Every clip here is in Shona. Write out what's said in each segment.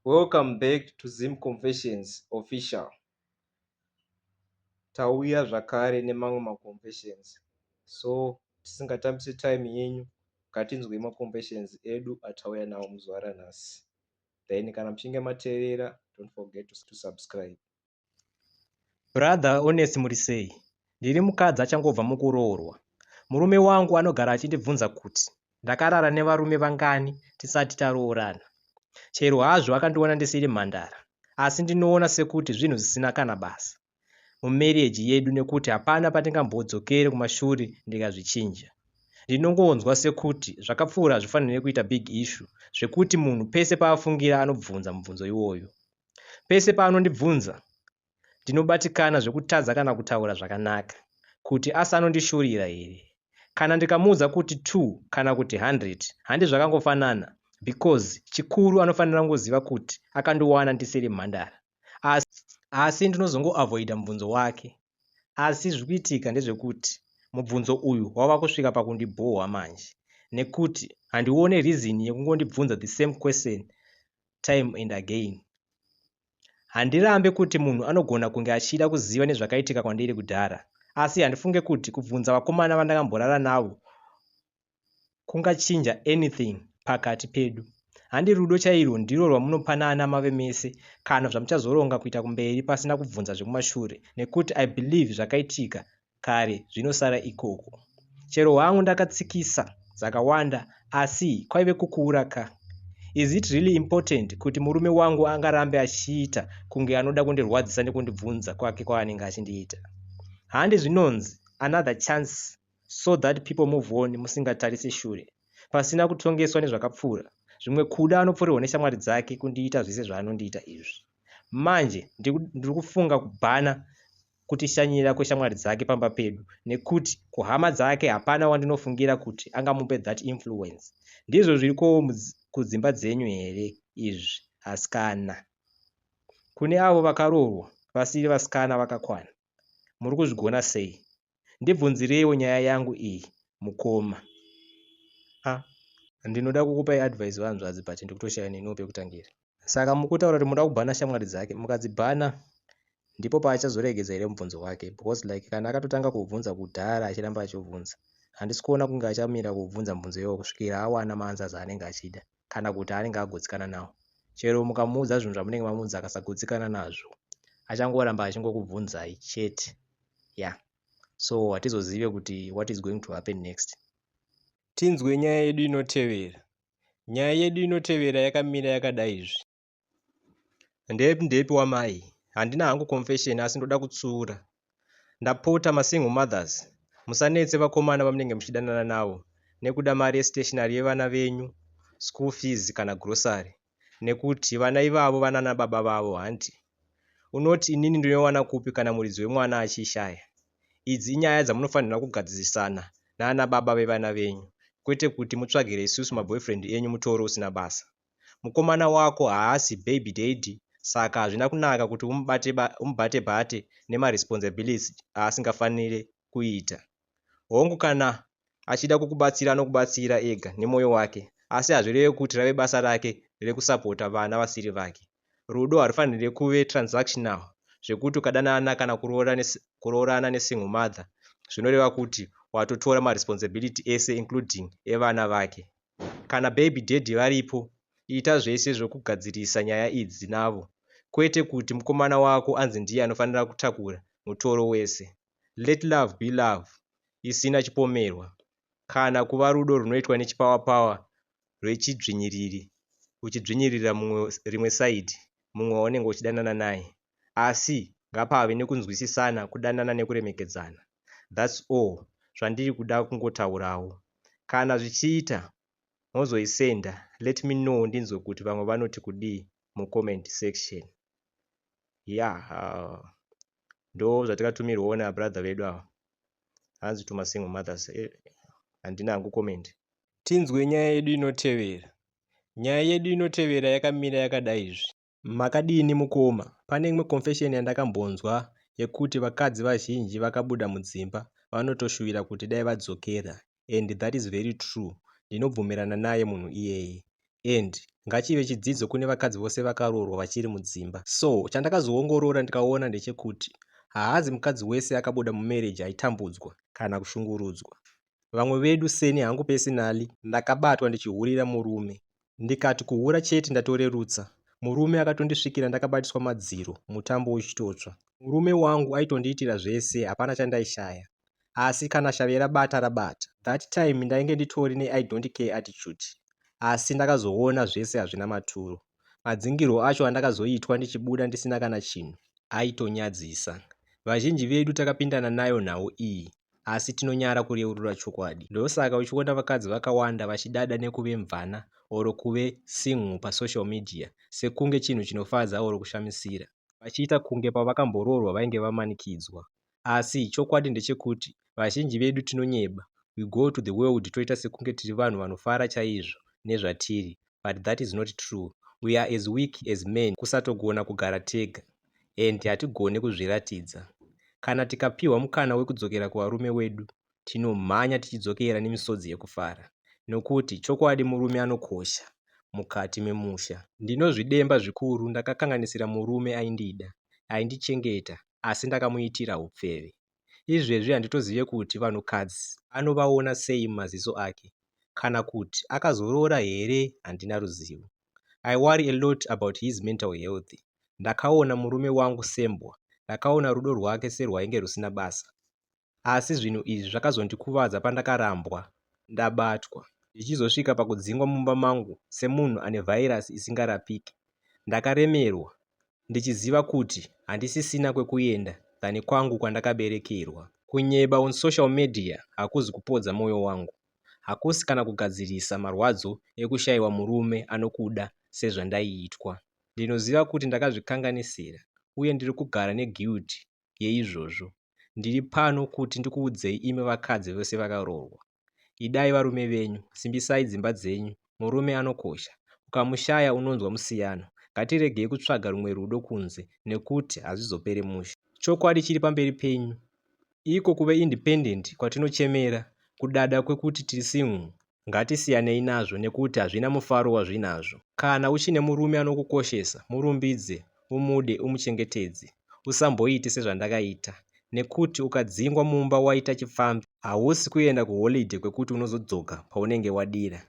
Welcome back to Zim Confessions Official. Tauya zvakare nemamwe maconfessions so tisingatambise time yenyu ngatinzwei maconfessions edu atauya nawo muzuva ranhasi then kana muchinge mateerera don't forget to subscribe. Brother Honest muri sei? Ndiri mukadzi achangobva mukuroorwa. Murume wangu anogara achindibvunza kuti ndakarara nevarume vangani tisati taroorana. Chero hazvo akandiona ndisiri mhandara, asi ndinoona sekuti zvinhu zvisina kana basa mumereji yedu nekuti hapana patingambodzokere kumashure ndikazvichinja. Ndinongonzwa sekuti zvakapfuura hazvifanire kuita big issue zvekuti munhu pese paafungira anobvunza mubvunzo iwoyo. Pese paanondibvunza, ndinobatikana zvekutadza kana kutaura zvakanaka kuti asi anondishorira here. Kana ndikamuudza kuti two kana kuti hundred handi zvakangofanana because chikuru anofanira kungoziva kuti akandiwana ndisiri mhandara. Asi, asi ndinozongoavoida mubvunzo wake. Asi zviri kuitika ndezvekuti mubvunzo uyu wava kusvika pakundibhohwa manje nekuti handione reason yekungondibvunza the same question time and again. Handirambe kuti munhu anogona kunge achida kuziva nezvakaitika kwandiri kudhara, asi handifunge kuti kubvunza vakomana vandakamborara navo kungachinja anything pakati pedu. Handi rudo chairwo ndiro rwamunopanana mave mese kana zvamuchazoronga kuita kumberi pasina kubvunza zvekumashure nekuti I believe zvakaitika kare zvinosara ikoko. Chero hangu ndakatsikisa dzakawanda asi kwaive kukuura ka. Is it really important kuti murume wangu angarambe achiita kunge anoda kundirwadzisa nekundibvunza kwake kwaanenge achindiita? Handi zvinonzi another chance so that people move on musingatarise shure pasina kutongeswa nezvakapfuura. Zvimwe kuda anopfurirwa neshamwari dzake kundiita zvese zvaanondiita izvi. Manje ndiri kufunga kubhana kutishanyira kweshamwari dzake pamba pedu nekuti kuhama dzake hapana wandinofungira kuti angamupe that influence. Ndizvo zvirikowo kudzimba dzenyu here izvi askana? Kune avo vakaroorwa vasiri vasikana vakakwana muri kuzvigona sei ndibvunzireiwo nyaya yangu iyi mukoma a ah, ndinoda kukupai advice vanzvadzi but ndikutoshaya neniwo pekutangira saka mukutaura kuti munoda kubhana shamwari dzake mukadzibhana ndipo paachazoregedza here mubvunzo wake because like kana akatotanga kubvunza kudhara achiramba achibvunza handisi kuona kunge achamira kubvunza mubvunzo iyoyo kusvikira awana maanzas anenge achida kana kuti anenge agutsikana nawo chero mukamuudza zvinhu zvamunenge mamuudza akasagutsikana nazvo achangoramba achingokubvunzai chete ya yeah. so hatizozive kuti what is going to happen next tinzwe nyaya yedu inotevera nyaya yedu inotevera yakamira yakadai izvi ndepi ndepi wamai handina hangu confession asi ndoda kutsura ndapota masingle mothers musanetse vakomana vamunenge muchidanana navo nekuda mari yestationary yevana venyu school fees kana grocery nekuti vana ivavo vanana baba vavo hanti unoti inini ndinowana kupi kana muridzi wemwana achiishaya idzi inyaya dzamunofanirwa kugadzisisana naana baba vevana venyu kwete kuti mutsvagire isusu maboyfriend enyu mutoro usina basa Mukomana wako haasi baby daddy saka hazvina kunaka kuti umubate bate nema responsibilities aasingafanire kuita. Hongu kana achida kukubatsira anokubatsira ega nemoyo wake asi hazvireve kuti rave basa rake rekusapota vana vasiri vake. Rudo harufanire kuve transactional zvekuti ukadanana kana kuroorana ne single mother zvinoreva kuti watotora ma responsibility ese including evana vake. kana baby daddy varipo ita zvese zvekugadzirisa nyaya idzi navo kwete kuti mukomana wako anzi ndiye anofanira kutakura mutoro wese. Let love be love isina chipomerwa kana kuva rudo runoitwa nechipower power rwechidzvinyiriri uchidzvinyirira mumwe rimwe side mumwe waunenge uchidanana naye. asi ngapave nekunzwisisana kudanana nekuremekedzana that's all zvandiri kuda kungotaurawo kana zvichiita mozoisenda let me know ndinzwe kuti vamwe vanoti kudii mucomment section yeah uh, ndo zvatikatumirwawo nabrother vedu ava hanzi to masingle mothers eh, handina hangu comment tinzwe nyaya yedu inotevera nyaya yedu inotevera yakamira yakadai izvi Makadini mukoma? Pane imwe confession yandakambonzwa yekuti vakadzi vazhinji vakabuda mudzimba vanotoshuvira kuti dai vadzokera and that is very true ndinobvumirana naye munhu iyeye and ngachive chidzidzo kune vakadzi vose vakaroorwa vachiri mudzimba so chandakazoongorora ndikaona ndechekuti haazi mukadzi wese akabuda mumarriage aitambudzwa kana kushungurudzwa vamwe vedu seni hangu pesinali ndakabatwa ndichihurira murume ndikati kuhura chete ndatorerutsa murume akatondisvikira ndakabatiswa madziro mutambo uchitotsva murume wangu aitondiitira zvese hapana chandaishaya asi kana shave rabata rabata that time ndainge nditori nei don't care attitude asi ndakazoona zvese hazvina maturo madzingirwo acho andakazoitwa ndichibuda ndisina kana chinhu aitonyadzisa vazhinji vedu takapindana nayo nhau iyi asi tinonyara kureurura chokwadi. Ndosaka uchiona vakadzi vakawanda vachidada nekuve mvana or kuve single pasocial media sekunge chinhu chinofadza or kushamisira. Vachiita kunge pavakamboroorwa vainge vamanikidzwa. Asi chokwadi ndechekuti vazhinji vedu tinonyeba, we go to the world toita sekunge tiri vanhu vanofara chaizvo nezvatiri but that is not true we are as weak as men kusatogona kugara tega and hatigone kuzviratidza kana tikapihwa mukana wekudzokera kuvarume wedu tinomhanya tichidzokera nemisodzi yekufara nokuti chokwadi murume anokosha mukati memusha ndinozvidemba zvikuru ndakakanganisira murume aindida aindichengeta asi ndakamuitira upfeve Izvezvi handitozive kuti vanhukadzi anovaona sei mumaziso ake kana kuti akazoroora here handina ruzivo. I worry a lot about his mental health. Ndakaona murume wangu sembwa, ndakaona rudo rwake serwainge rusina basa. Asi zvinhu izvi zvakazondikuvadza pandakarambwa ndabatwa zvichizosvika pakudzingwa mumba mangu semunhu ane vhairasi isingarapike. Ndakaremerwa ndichiziva kuti handisisina kwekuenda than kwangu kwandakaberekerwa. Kunyeba on social media hakuzi kupodza moyo wangu, hakusi kana kugadzirisa marwadzo ekushaiwa murume anokuda sezvandaiitwa. Ndinoziva kuti ndakazvikanganisira uye ndiri kugara ne guilt yeizvozvo. Ndiri pano kuti ndikuudzei imi vakadzi vese vakaroorwa Idai varume venyu, simbisai dzimba dzenyu, murume anokosha. Ukamushaya unonzwa musiyano. Ngatiregei kutsvaga rumwe rudo kunze nekuti hazvizopere mushe. Chokwadi chiri pamberi penyu. Iko kuve independent kwatinochemera, kudada kwekuti tiri single, ngatisiyanei nazvo nekuti hazvina mufaro wazvinazvo. Kana uchine murume anokukoshesa, murumbidze, umude umuchengetedze usamboite sezvandakaita nekuti ukadzingwa mumba waita chipfambi hausi kuenda kuholidhe kwekuti unozodzoka paunenge wadira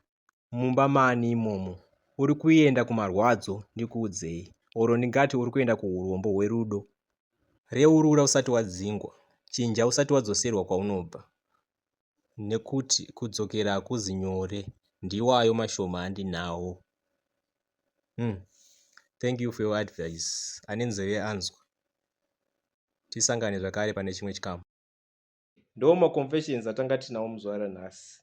mumba mani imomo uri kuenda kumarwadzo ndikuudzei oro ndingati uri kuenda kuurombo hwerudo reurura usati wadzingwa chinja usati wadzoserwa kwaunobva nekuti kudzokera hakuzi nyore ndiwayo mashoma andinawo umm thank you for your advice ane nzeve anzwa tisangane zvakare pane chimwe chikamu. Ndoo maconfessions atanga tinawo muzvara nhasi